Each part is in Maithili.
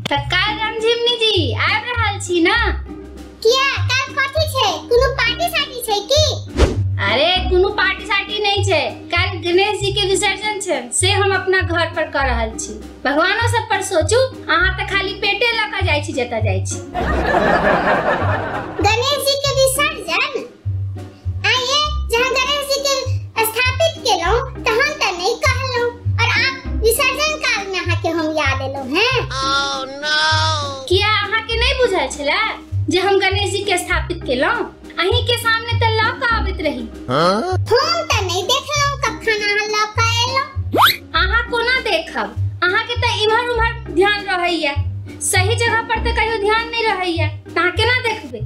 तऽ काल्हि हम झिमनी जी आबि रहल छी ने किया काल कथी छै कोनो पार्टी साटी छै की अरे कोनो पार्टी साटी नहीं छै काल्हि गणेश जी के विसर्जन छै से हम अपना घर पर कर रहल छी भगवानो सब पर सोचू अहाँ तऽ खाली पेटे लऽ कऽ जाइ छी जतऽ जाइ छी गणेश जी के विसर्जन आ ये जहाँ गणेश जी के स्थापित केलहुँ तहन तऽ नहि कहलहुँ और आप विसर्जन काल में अहाँ के हम याद एलहुँ हैं किया अहाँके नहि बुझल छलै जे हम गणेश जी के स्थापित केलहुँ अहीं के सामने त लऽ के आबैत रही हम त नहीं देखलहुं कखन अहाँ लऽ के एलहुं अहाँ कोना देखब अहाँ के त इम्हर उम्हर ध्यान रहैया सही जगह पर त कहियो ध्यान नहीं रहैया त अहाँ केना देखबै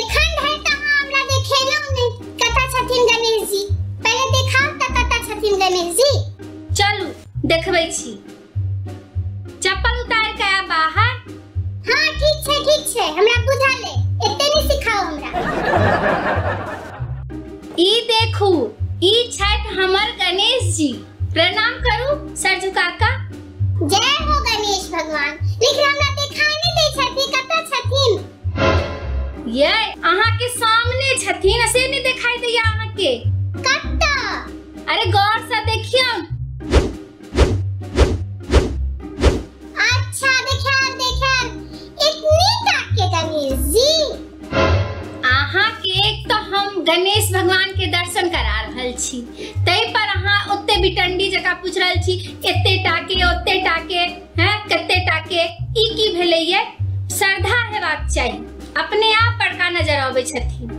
एखन धरि त अहाँ हमरा देखेलहुं नहीं कतऽ छथिन गणेश जी पहिले देखाउ त कतऽ छथिन गणेश जी चलू देखबै छी चप्पल उतार के आ बाहर हाँ ठीक छै ठीक छै हमरा बुझा ले एते नहीं सिखाओ हमरा ई देखू ई छठ हमर गणेश जी प्रणाम करू सर झुका का जय हो गणेश भगवान लेकिन हमरा दिखाई नहीं दे छथि कतऽ छथिन ये अहाँ के सामने छथिन से नहीं दिखाई दैया अहाँ के कतऽ अरे गौर से देखियौ गणेश भगवान के दर्शन करा रहल छी तै पर अहाँ ओते बिटंडी जका पूछ रहल छी एते टाके ओते टाके हैं कते टाके ई की भेले ये श्रद्धा हेबाक चाहिए अपने आप बड़का नजर आबे छथिन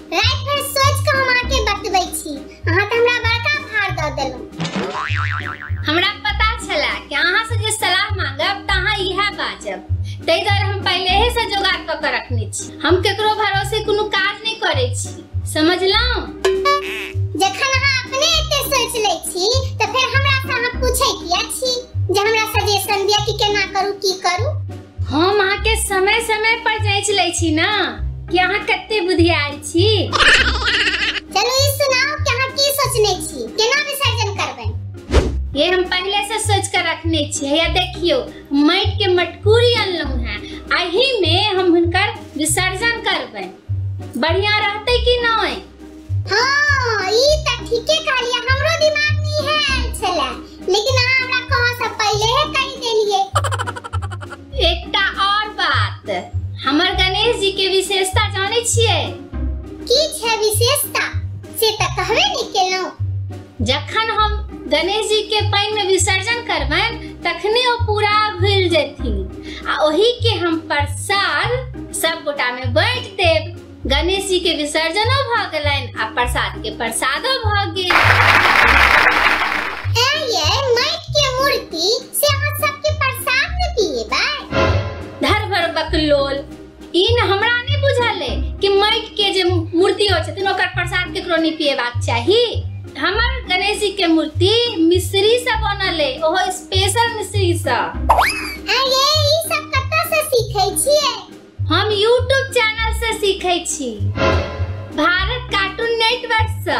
राति भर सोच के हम अहाँ के बतबै छी अहाँ तऽ हमरा बड़का भार दऽ देलहुँ हमरा पता छला कि अहाँ से जे सलाह मांगब तऽ अहाँ इएह बाजब ताहि दुआरे हम पहिलेहे से जोगाड़ कऽ के रखने छी हम केकरो भरोसे कोनो काज नहि करै छी समझलहुँ जखन अहाँ अपने एते सोच लै छी तऽ फेर हमरा से अहाँ पूछै किया छी जे हमरा सजेशन दिअ कि केना करू की करू हम अहाँके समय समय पर जांच लै छी ना कि अहाँ कते बुधियार छी चलो ई सुनाओ कि अहाँ की सोचने छी केना विसर्जन करबै ये हम पहले से सोच कर रखने छियै या देखियो माटि के मटकूरी अनलहुं हैं अही में हम हुनकर विसर्जन करबै बढ़िया रहते कि नहीं हाँ ई त ठीके कहलिए हमरो दिमाग में इहे आयल छले लेकिन अहाँ हमरा कह से पहिले हे कहि देलिए एकटा और बात हमर गणेश जी के विशेषता जाने छिए की छै विशेषता से त कहबे नहीं केलहुँ जखन हम गणेश जी के पानि में विसर्जन करबन तखने ओ पूरा घुल जेथिन आ ओही के हम प्रसाद सब गोटा में बांट देब गणेश जी के विसर्जनो भ गेलनि आ प्रसाद के प्रसादो भ गेल ऐ ये माइट के मूर्ति से अहाँ सबके प्रसाद में पिएबै धर भर बकलोल ई न हमरा नहि बुझल अइ कि माटि के जे मूर्ति होइ छथिन ओकर प्रसाद केकरो नहि पिएबाक चाही हमर गणेश जी के मूर्ति मिश्री से बनल अइ ओहो स्पेशल मिश्री से ऐ ये ई सब कतऽ से सीखै छियै हम यूट्यूब चैनल से सीखे छी भारत कार्टून नेटवर्क से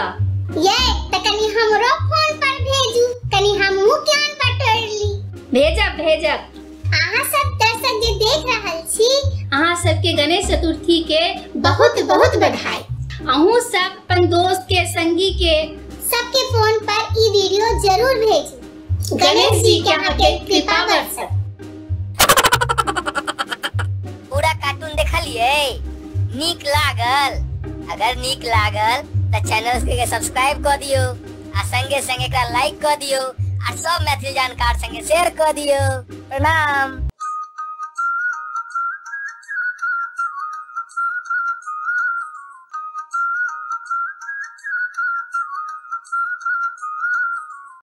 ये त कनी हमरो फोन पर भेजू कनी हमहू ज्ञान बटोर ली भेजब भेजब अहाँ सब दर्शक जे देख रहल छी अहाँ सबके गणेश चतुर्थी के बहुत बहुत बधाई अहूँ सब अपन दोस्त के संगी के सबके फोन पर ई वीडियो जरूर भेजू गणेश जी के अहाँ के कृपा बरसत पूरा कार्टून देखलिए नीक लागल अगर नीक लागल त चैनल के सब्सक्राइब क दियो आ संगे संगे एकरा लाइक क दियो आ सब मैथिली जानकार संगे शेयर क दियो प्रणाम